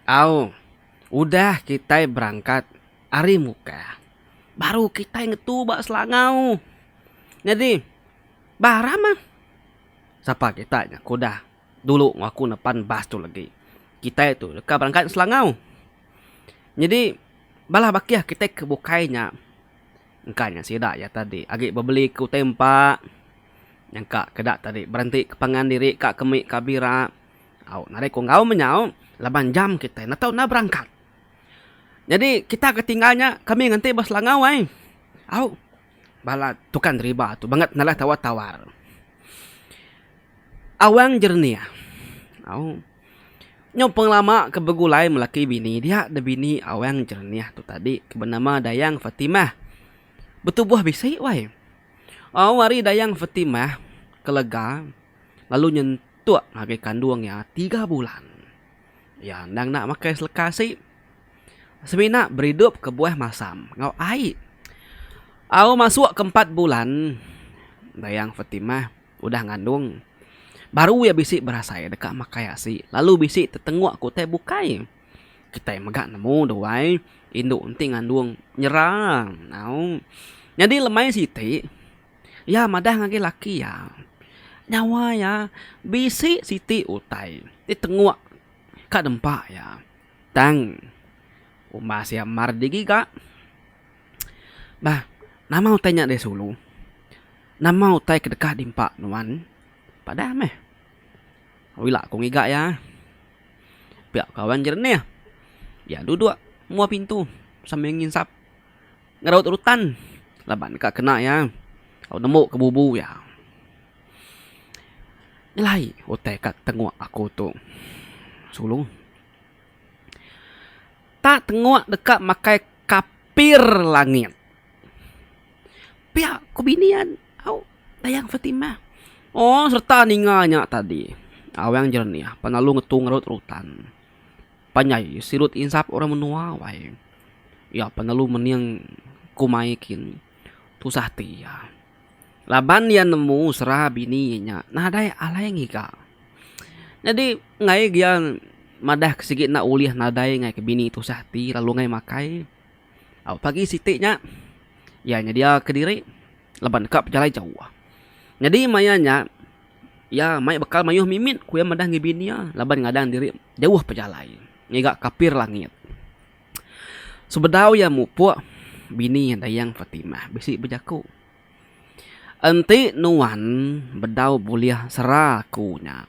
Au, udah kitai berangkat ari Mukah, baru kitai ngetu ba Selangau. Nyadi. Bah Rahman! Sapa kita nya ke udah dulu enggau aku nepan bas tu legi. Kitai tu deka berangkat ke Selangau. Nyadi, bala bakih kitai ke bukai nya engka nya sida iya tadi agi bebeli ke utai empa, nyangka ke eda tadi berenti ke pangan diri ka ke mik ka bira. Au, nadai ku enggau menyau laban jam kitai enda tau enda berangkat. Nyadi, kita ke tinggal nya kami nganti ba Selangau ai. Au. Bala tukang riba tu bangat nalah tawar-tawar. Awang Jernih, au, nyau pengelama ke begulai melaki bini dia da bini Awang Jernih tu tadi ke benama Dayang Fatimah. Betubuh bisi wai. Au ari Dayang Fatimah ke lega lalu nyentuk ngagai kandung iya tiga bulan. Iya endang enda makai seleka asi. semina beridup kebuah masam enggau ai. Au masuk ke empat bulan Dayang Fatimah udah ngandung baru iya bisi berasai deka makai asi lalu bisi tetengok ke utai bukai. Kitai mega nemu duai indu enti ngandung nyera au. Nyadi lemai siti iya madah ngagai laki iya nyawa iya bisi siti utai ditengok ka nempa iya. Tang, umbah sia mar di giga. Bah, nama utai nya deh sulu? Nama utai ke deka diempa nuan? Padah meh. Au ila ku ngiga iya. Pia ka wan jerenih. Iya duduk mua pintu sambil nginsap ngeraut rutan laban ka kena iya. Au nembu ke bubu iya. Nyelai utai ka tenguk aku tu. Sulung. Tak tenguk deka makai kapir langit. Pia ku bini an au Dayang Fatimah. Oh serta ninga nya tadi. Awang Jernih pan lalu ngetu ngerut rutan. Panjai sirut insap orang menua wai. Iya pan lalu mening kumai kin. Tusah ati iya laban iya nemu sera bini iya nya nadai alai ngiga. Nyadi enggai gia madah ke sigi enda ulih nadai ngagai ke bini tusah ati lalu enggai makai. Au pagi siti nya iya nyedia ke diri laban deka pejalai jauh. Nyadi maya nya iya mai bekal mayuh mimit ku iya madah ngagai bini iya laban ngadang diri jauh pejalai ngiga kapir langit. Sebedau iya mupuk, bini Dayang Fatimah bisi bejaku, Enti nuan bedau bulih sera aku nya,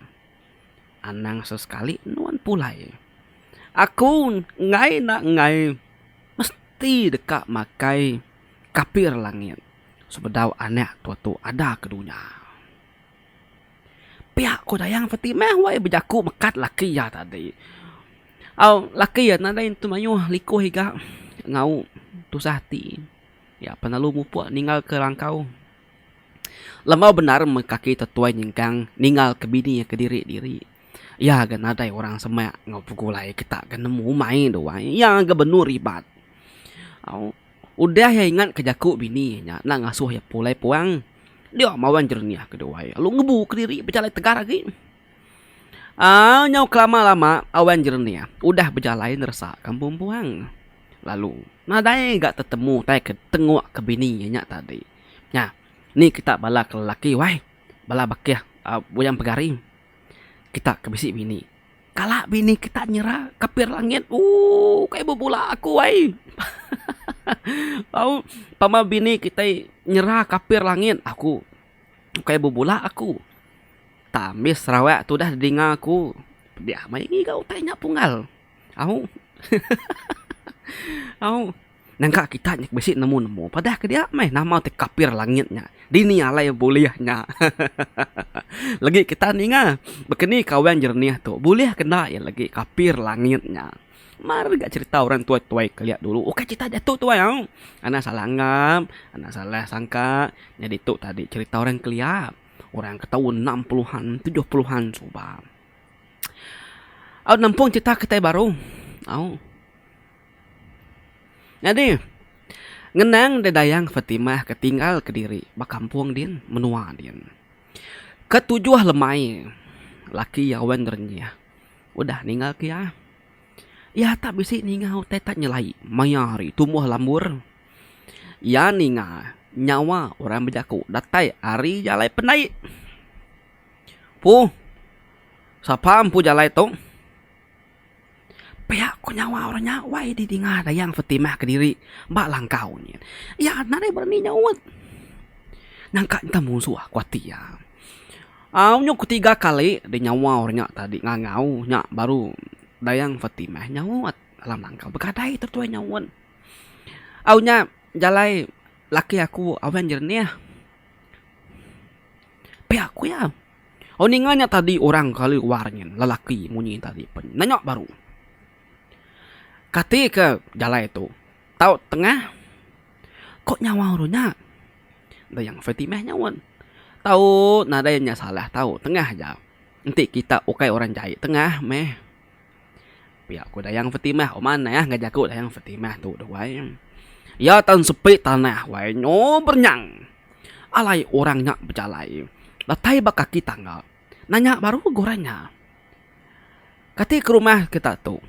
anang sesekali nuan pulai. Aku enggai enda enggai mesti deka makai kapir langit sebedau anak tua tu ada ke dunya. Pia ko Dayang Peti meh wei bejaku mekat laki iya tadi. Au laki iya nadai nentu mayuh likoh iga ngau tusah ati iya penelu mupok ningal ke rangkau lembau bendar mun kaki tetuai nyengkang ningal ke bini iya kediri diri iya ga nadai orang semak ngau begulai kita ga nemu umai duai iya ga benur ribat au. Udah iya ingat ke jaku bini iya nya enda ngasuh iya pulai puang, dia mawan jernih keduai lalu ngebu kediri bejalai tegar agi. Aa nyau kelama lama awan jernih udah bejalai neresa kampung puang lalu nadai ga tetemu tai ke tengok ke bini iya nya tadi. Nya ni kita bala ke lelaki wai bala bakih buyang pegari kita ke bisi bini. Kala bini kita nyera kapir langit ooh kai bebula aku ai. Au pama bini kitai nyera kapir langit aku kai bebula aku. Ta ambis Sarawak tu udah dinga aku pediah meh ngiga utai nya pungal. Au. Au. Nangka kita nya bisi nemu nemu padah ke dia meh nama ti kapir langit nya dini alai bulih nya hahaha legi kita ninga bekeni kawan jernih tu bulih ke enda iya legi kapir langit nya mar ga cerita orang tuai tuai kelia dulu ukai cerita diatu tuai au anak salah anggap anak salah sangka nyadi tu tadi cerita orang kelia orang ke taun enam puluh an tujuh puluh an suba au nempung cerita kitai baru au. Nyadi, ngenang deh Dayang Fatimah ke tinggal kediri ba kampung din, menua din. Ke tujuh lemai laki iya Wen Renyah udah ninggalka iya. Iya tak bisi ninga utai tak nyelai maya hari tumbuh lambur. Iya ninga nyawa orang bejaku datai ari jalai pendai. Pu, sapa empu jalai tu? Pia ko nyawa orang nya wai di dinga Dayang Fetimah kediri ba langkau nyin. Iya enda deh berani nyaut. Nyangka enta musuh ko ati iya. Au nyuk ke tiga kali deh nyawa orang nya tadi ngangau nya baru Dayang Fetimah nyaut alam langkau. Begadai tok tuai nyaut. Au nya jalai laki aku Awen Jernih. Pia ko iya. Oh ninga nya tadi orang kelalu war nyin lelaki munyi tadi pen nya nya baru kati ke jalai tu tau tengah ko nyawa ru nya dayang fatimah nyaut tau nadai nya salah tau tengah aja enti kita ukai orang jai tengah meh. Pia ku Dayang Fatimah uman ne ya ngajar aku Dayang Fatimah tu doh wai. Ya tan sepi tanah wai nyo bernyang. Alai orang nya bejalai datai ba kaki tangga nanya baru guran nya. Kati ke rumah kita tu?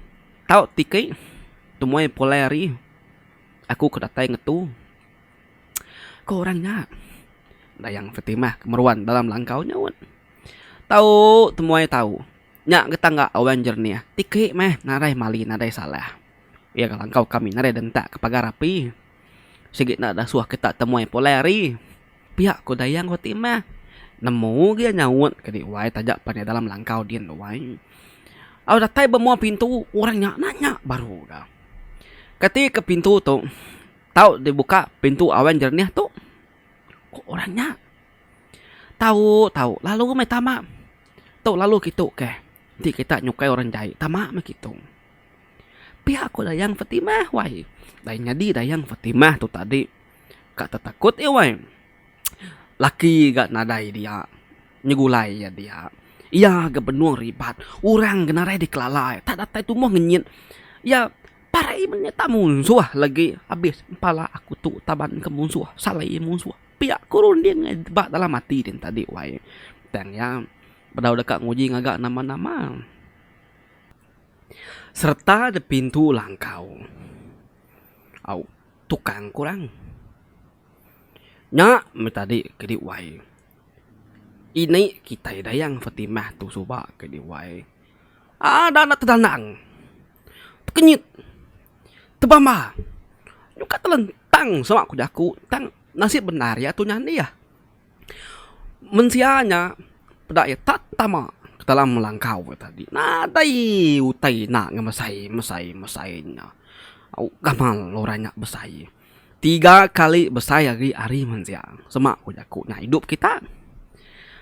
Tau tike temuai pulai ari aku ke datai ngetu. Ku orang nya. Dayang Fatimah ke meruan dalam langkau nyaut. Tau temuai tau. Nya getang ga awan jernih ti kei meh nadai mali nadai salah. Iya ngelangkau kami nadai dentak ke pagar api. Sigi enda dasuh kita temuai pulai hari. Pia ku Dayang reti meh. Nemu gi iya nyaut ke di wai taja pan iya dalam langkau din di wai. Au datai ba mua pintu orang nya na nya baru ga. Keti ke pintu tu tau dibuka pintu awan jernih tu. Ku orang nya. Tau tau lalu meh tama. Tu lalu kitu kah enti kita nyukai orang jai tama meh kitu. Pia ko Dayang Fatimah wai. Dai nyadi Dayang Fatimah tu tadi ka tetakut iya wai. Laki ga nadai dia nyegulai iya dia. Iya ga benung ribat. Orang ga nadai dikelala iya. Tak datai tumoh ngenyit iya parai mene ta munsoh lagi abis pala aku tu taban ke munsoh salai munsoh. Pia ku runding ba dalam ati din tadi wai. Tang iya bedau deka nguji ngaga nama-nama sereta di pintu langkau au tukang kurang. Nya meh tadi kedi wai. Ini kitai Dayang Fatimah tu suba kedi wai. Ada anak tedanang. Tekenyit. Tebamba. Nyuka telentang sema ku jaku tang nasib bendar iya tu nyadi ah. Mensia nya peda iya tak tama ke dalam langkau iya tadi. Nadai utai ina ngemesai mesai mesai nya. Au gamal orang nya besai. Tiga kali besai ari ari mensia sema ku jaku nya idup kita.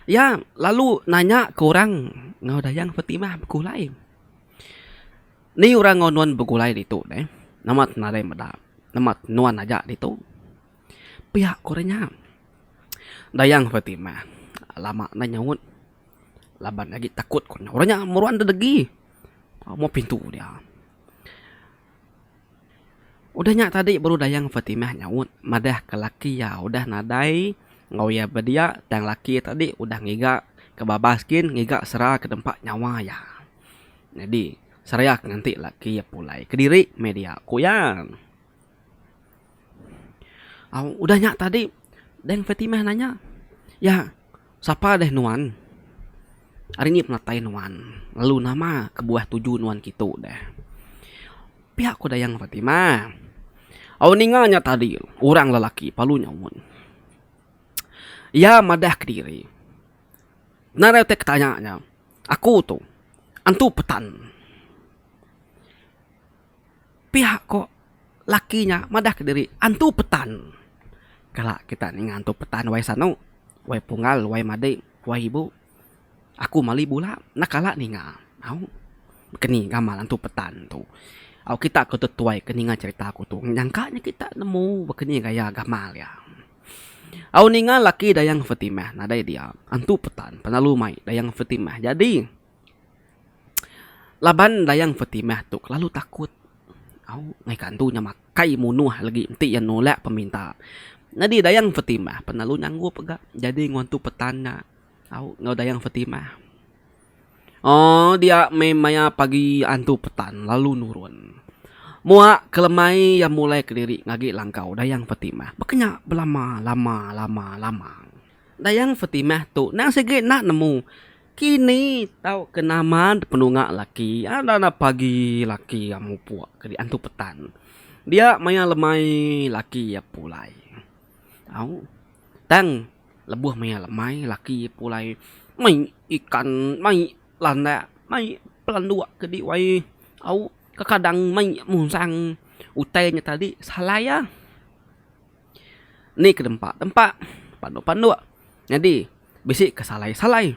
Iya lalu nanya ke orang enggau dayang Fatimah beku alai. Ni orang enggau nuan begulai ditu neh? Nama ti nadai meda? Nama ti nuan aja ditu? Pia ku orang nya. Dayang Fatimah lama nda nyaut laban agi takut ku nya. Orang nya meruan deh degi meh pintu dia. Udah nya tadi baru Dayang Fatimah nyaut madah ke laki iya udah nadai enggau iya bedia tang laki iya tadi udah ngiga ke babas gin ngiga sera ke nempa nyawa iya. Nyadi, Sariak nganti laki iya pulai kediri meh dia, ku iya. Au, udah nya tadi, Dayang Fatimah nanya, Ya, sapa deh nuan? Ari ngi penatai nuan? Lalu nama kebuah tuju nuan kitu deh? Pia ku Dayang Fatimah, Au ninga nya tadi, orang lelaki palu nyaut. Iya madah kediri. Nadai utai ke tanya nya. Aku tu antu petan. Piak ko laki nya madah ke diri antu petan. Kala kita ninga antu petan wai sano, wai pungal, wai madi, wai ibu. Aku mali bula enda kala ninga au keni ngamal antu petan tu. Au kita ke tetuai ke ninga cherita aku tu nyangka nya kita nemu ba keni gaya gamal iya. Au ninga laki Dayang Fetimah nadai dia, antu Petan penalu mai Dayang Fetimah jadi. Laban Dayang Fetimah tu kelalu takut au ngaika antu nya makai munuh lagi enti iya nulak peminta. Nyadi Dayang Fetimah penalu nyanggup ga jadi enggau antu Petan nya Au enggau Dayang Fatimah. Oh, dia meh maya pagi antu petan lalu nurun. Mua ke lemai iya mulai kediri ngagi langkau Dayang Fatimah. Baka nya belama lama lama lama. Dayang Fatimah tu nang sigi enda nemu kini tauka nama penunga laki enda enda pagi laki iya mupuk ke di antu petan. Dia maya lemai laki iya pulai. Au tang. Lebuh maya lemai laki iya pulai mai ikan mai landak mai pelanduk ke di wai au kekadang mai musang utai nya tadi salai iya. Ni kedempa dempa panduk panduk nyadi bisi ke salai salai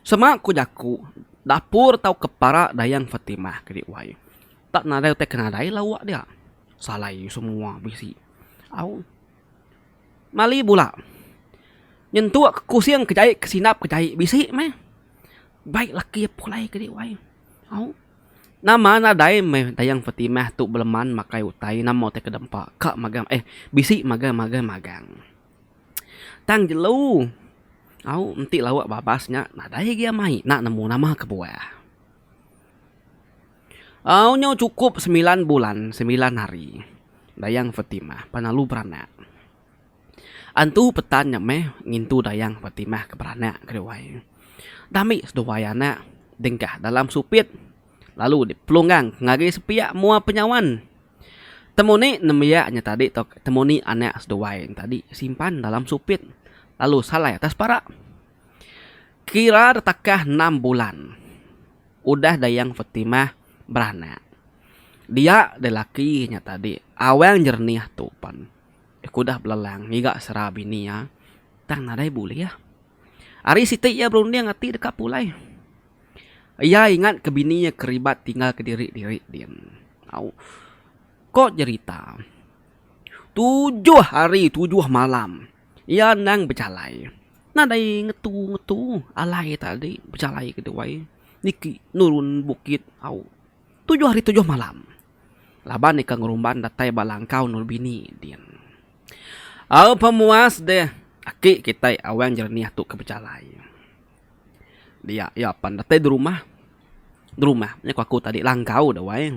sema ku jaku dapur tau ke para dayang fatimah ke di wai tak nadai utai ke nadai lauk dia salai semua bisi au. Mali bula nyentuk ke kusing ke jai ke sindap ke jai bisi meh bai laki iya pulai ke dih wai au nama nadai meh tayang Fatimah tu beleman makai utai nama utai ke dempa ka magang eh bisi magang magang magang tang jelu au enti lauk babas nya nadai agi amai na nemu nama kebuah. Au nyau chukup semilan bulan semilan hari Dayang Fatimah penalu beranak. Antu Petan nya meh ngintu Dayang Fatimah ke beranak ke duai. Dami seduai anak dengkah dalam supit lalu dipelunggang ngagai sepiak mua penyawan. Temu ni nembiak nya tadi tau temu ni anak seduai nya tadi simpan dalam supit lalu salai atas parak. Kira detakah enam bulan udah Dayang Fatimah beranak. Dia deh laki nya tadi awang jernih tu pen ku udah belelang ngiga sera bini iya tang nadai bulih. Ari siti iya berunding ati deka pulai. Iya ingat ke bini iya keribat tinggal kediri-diri din. Au. Ko jerita, tujuh hari tujuh malam. Iya endang bejalai. Nadai ngetu-ngetu alai tadi bejalai ke duai niki nurun bukit au tujuh hari tujuh malam laban ika ngerumban datai ba langkau endur bini din. Au pemuas deh aki kitai Awang Jernih tu ke bejalai. Dia iya pan datai derumah, derumah nya ku aku tadi langkau duai.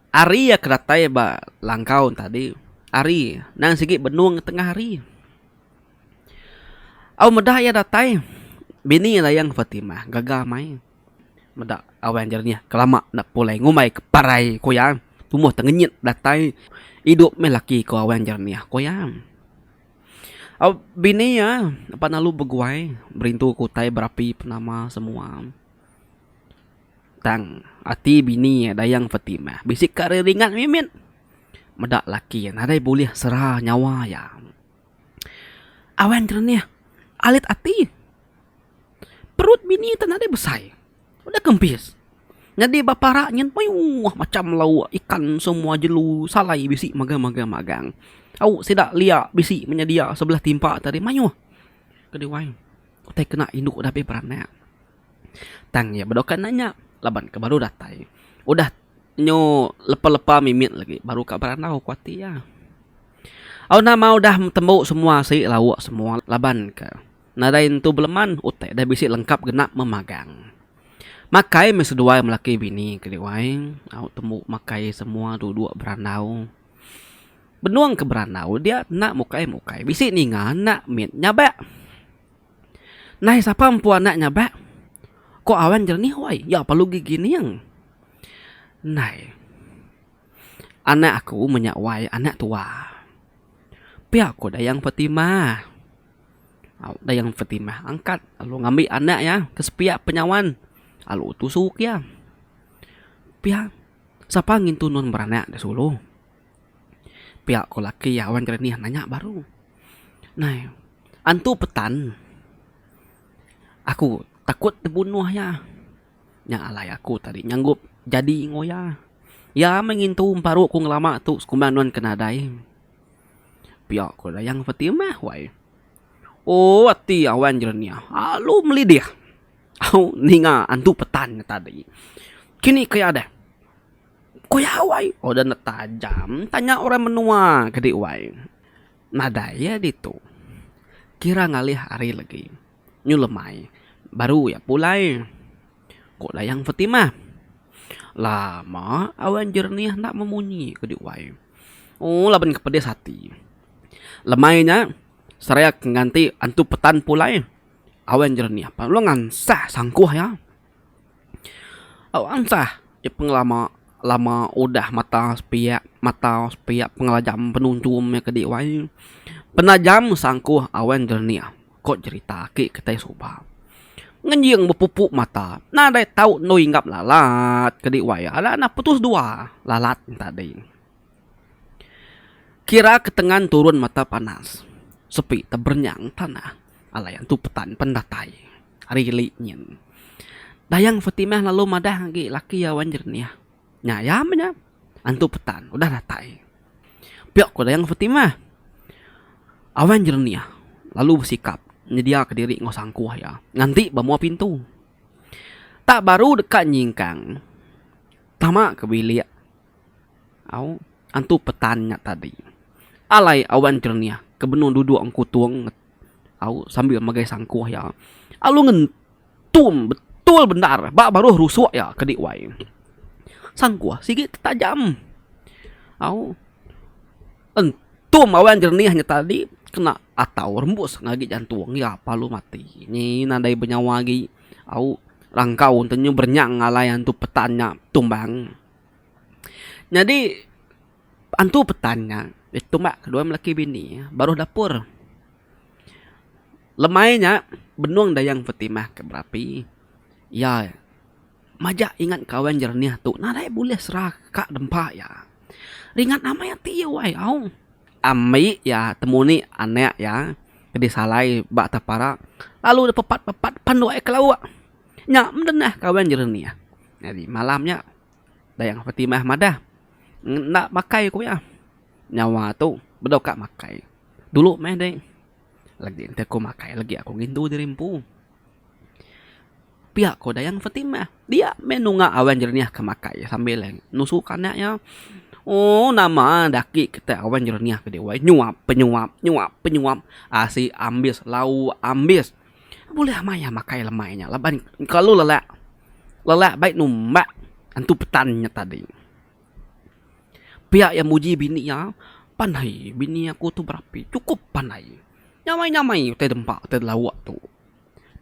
Ari iya ke datai ba langkau enti tadi, ari nang sigi benung tengah hari. Au meda iya datai, bini Dayang Fatimah gaga mai. Meda Awang Jernih kelama enda pulai ngumbai ke parai ku iya, tumoh tengenyit datai idup meh laki ku Awang Jernih ku iya. Au bini iya pan lalu beguai berintu ke utai berapi penama semua. Tang ati bini iya Dayang Fatimah bisi ka ari ringat mimit. Meda laki iya nadai bulih sera nyawa iya. Awan jerenih alit ati. Perut bini ti nadai besai udah kempis. Nyadi ba parak nyin meyuh macam lauk ikan semua jelu salai bisi magang magang magang. Au sida lia bisi menyedia sebelah timpa tadi meyuh kedi wai. utai kena indu udah be beranak tang iya bedoka enda nya laban ke baru datai udah nyu lepa lepa mimit lagi baru ka berandau ku ati iya. Au nama udah tembu semua sik lauk semua laban ke nadai entu beleman utai ida bisi lengkap kena memagang. Makai meh seduai lelaki bini ke dewai au tembu makai semua duduk berandau. Benung ke berandau dia enda mukai mukai bisi ninga enda mit nyabak. Nai sapa empu anak nyabak ko awan jernih wai ya perlu gegining. Nai anak aku menya wai anak tua pia ko Dayang Fatimah. Au Dayang Fatimah angkat lalu ngambi anak iya ke sepiak penyawan lalu tusu ke iya. Pia. Sapa ngintu nuan beranak da sulu? Pia ko laki iya wan jerenih nanya baru. Nai, antu petan. Aku takut tebunuh iya. Nya alai aku tadi nyanggup jadi enggau iya. Iya meh ngintu emparu ku ngelama tu sekumbang nuan ke nadai. Pia ko Dayang Fatimah wai. Ooh ati iya wan jerenih alu melidih. Au ninga antu petan nya tadi. Kini ke iya deh. Ku iya wai. Oh udah ndeh tajam. Tanya orang menua ke di wai. Nadai iya ditu. Kira ngalih hari legi. Nyu lemai. Baru iya pulai. Ku Dayang Fetimah. Lama awan jernih enda memunyi ke di wai. Oh laban ke pedis ati. Lemai nya seraya ke nganti antu petan pulai. awan jerenih apai lalu ngansah sangkuh iya. Au ansah iya pengelama lama udah mata sepiak mata sepiak pengelajam penunjung iya ke dih wai. Penajam sangkuh awan jerenih ko jerita aki ke tai suba. Ngenjing bepupu mata nadai tau endur hinggap lalat ke dih wai iya. Ala enda putus dua lalat enta dih. Kira ketengan turun mata panas, sepi teberenyang tanah alai antu petan pen datai ari geli nyin. Dayang Fatimah lalu madah agi laki iya wan jerenih, Nya iya meh nya, antu petan udah datai. Piyok ku Dayang Fatimah. A wan jerenih lalu besikap nyediaka diri enggau sangkuh iya nganti ba mua pintu. Tak baru deka nyingkang tama ke bilik. Au, antu petan nya tadi. Alai awan jernih ke benung duduk engkutung nget au sambil megai sangkuh iya. Alu ngentum betul bendar ba baruh rusuk iya ke di wai. Sangkuh sigi tetajam. Au, entum awan jernih nya tadi kena atau rembus ngagai jantung iya pa alu mati. Nyi nadai benyawa agi. Au, rangkau enti nyu berenyang alai antu petan nya tumbang. Nyadi antu petan nya ditumbak dua lelaki bini baruh dapur. Lemai nya benung Dayang Fatimah ke berapi iya majak ingat kawan jernih tu nadai bulih sera ka dempa iya. Ringat amai ati iya wai au. Ami iya temuni anak iya ke disalai ba tapara lalu dipepat-pepat pan dua ekor lauk. Nya mdengah kawen jernih. Nyadi malam nya Dayang Fatimah madah, Enda makai ku iya. Nyawa tu bedau ka makai. Dulu meh deh. Lagi enti ku makai lagi aku ngintu diri empu. Pia ku Dayang Fatimah. Dia meh nunga awen jernih ke makai sambil nusu ke anak iya. Ooh nama enda agi kita awen jernih ke dih weh. Nyuap penyuap, nyuap penyuap. Asi ambis, lauk ambis. Bulih maya makai lemai nya laban kelalu lelak. Lelak bai numbak antu petan nya tadi. Pia iya muji bini iya, pandai bini aku tu berapi, cukup pandai. Nyamai-nyamai utai dempa, utai lauk tu.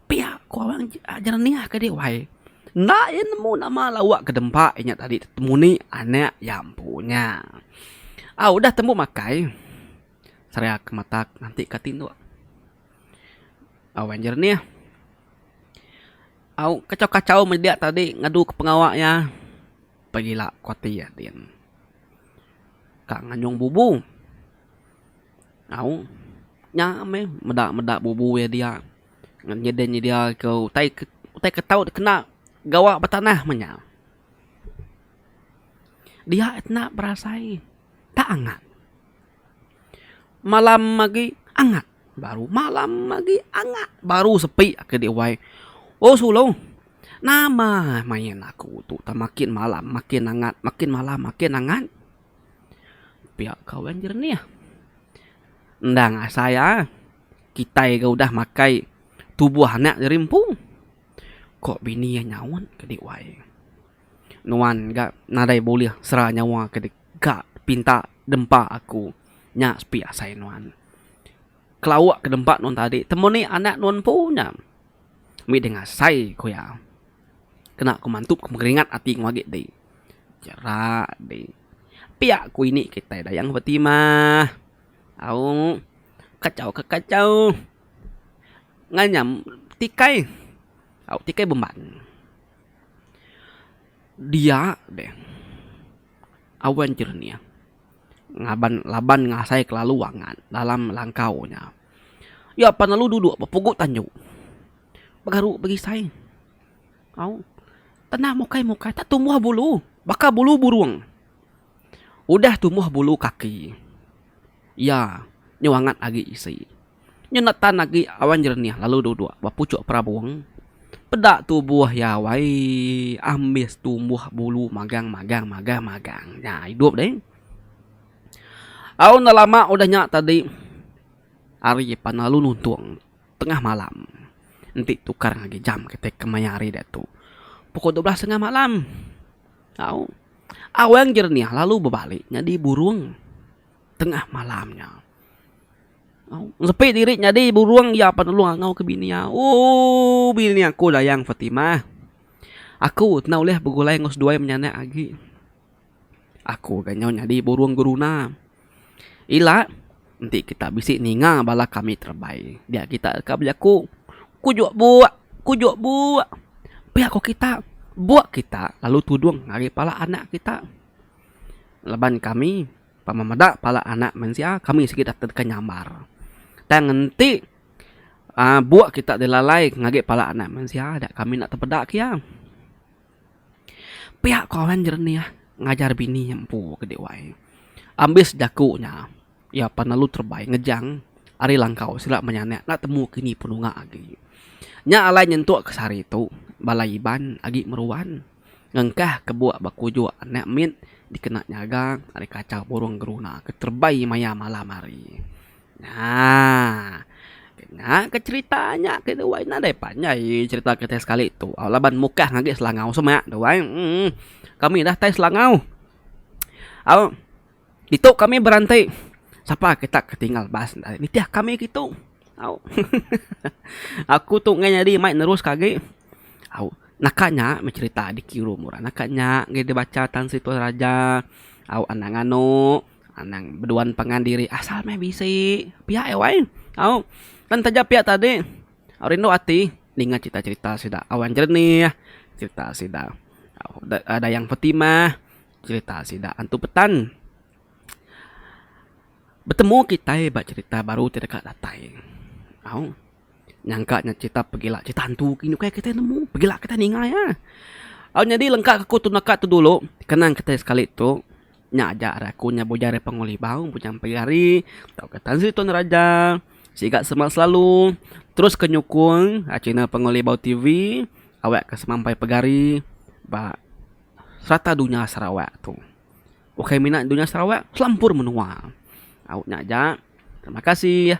Pia ku orang jerenih ke dih wai. Enda iya nemu nama lauk ke dempa inya tadi temuni anak iya empu nya. Au udah tembu makai, seriaka matak nganti ka tinduk. Awan jernih. Au kachau-kachau media tadi ngaduka pengawa iya pegila ku ati iya din. Ka nganyung bubu. Au nya meh meda-meda bubu iya dia nyedia-nyedia iku utai utai ke tau dikena gawa ba tanah meh nya. Dia tena berasai tak angat. Malam agi angat baru malam agi angat baru sepi aka dek wai oh sulu nama main aku tu tang makin malam makin angat makin malam makin angat pia kawan jernih endang asai iya kitai ga udah makai tubuh anak ri empu ko bini iya nyaut ke dek wai. Nuan ga nadai bulih sera nyawa ke deka dipinta dempa aku. Nya sepi asai nuan. Kelauk ke dempa nuan tadi temuni anak nuan empu nya mih ding asai ku iya. Kena ku mantu ku meringat ati ku agi ti. Jera dih. Pia ku ini kitai Dayang Fatimah. Au kachau ke kachau nganyam tikai. Au tikai bemban. dia deh awan jernih ngaban laban ngasai kelalu angat dalam langkau nya. Iya pan lalu duduk ba pugu tanju begaru begisai au tanah mukai mukai tak tumbuh bulu baka bulu burung. Udah tumbuh bulu kaki iya nyau angat agi isi. Nyau enda tan agi awan jerenih lalu duduk ba puchuk perabung. Peda tubuh iya wai ambis tumbuh bulu magang magang magang magang. Nya idup deh. Au enda lama udah nya tadi hari pan lalu nuntung tengah malam enti tukar ngagai jam kitai kemaya hari diatu pukul dua belas tengah malam. Au. Awang Jerniah lalu bebalik nyadi burung tengah malam nya. Ngesepi diri nyadi burung iya penelung enggau ke bini iya. Ooh bini aku Dayang Fatimah. Aku enda ulih begulai enggau seduai menyanak agi. Aku ga nyau nyadi burung geruna. Ila, enti kita bisi ninga bala kami terebai dia kita deka bejaku kujok buk kujok buk pia ko kita buk kita lalu tudung ari pala anak kita laban kami pama meda pala anak mensia kami sigi deka nyambar tang enti buk kita dilalai ngagai pala anak mensia kami enda tepeda ke iya. Pia ko Alan jerenih ngajar bini nya empu ke dek wai. Ambis jaku nya iya pan lalu terebai ngejang ari langkau sida menyanak enda temu ke nyi penunga agi. Nya alai nyentuk ke sehari tu bala Iban agi meruan ngengkah ke buk ba kujuk anak mit dikena nyaga ari kachau burung geruna ke terebai maya malam hari. Nah. Dengaka cherita nya ke dua ina deh panjai cherita kitai sekali tu. Au laban mukah ngagai selangau semak tu ai. Emm kami dah tai selangau. Au ditu kami beranti sapa kita ke tinggal bas ndai nitih kami ke tu. Au aku tu ngai nyadi mai neruska agi. Au naka nya meh cherita diki rum orang naka nya ngai dibacha tan sri toraja au anang anok. Anang beduan pangan diri asal meh bisi pia eh wai. Au pan taja pia tadi au rindu ati ninga crita crita sida Awan Jernih, crita sida Dayang Fatimah, crita sida Antu Petan. Betemu kitai ba crita baru ti deka datai. Au. Nyangka nya cerita pegila cerita hantu gin ukai kitai nemu pegila kitai ninga iya. Au nyadi lengka aku tu naka tu dulu kenang kitai sekali tu nya aja arai aku nya bujang ari Pangu Libau bujang empai hari tau ka Tan Sri Tun Raja siga Semak Selalu terus ka nyukung channel Pangu Libau TV awak ka sema empai pegari ba serata dunya Sarawak tu. Ukai mina dunya Sarawak selampur menua. Au nya aja terima kasih.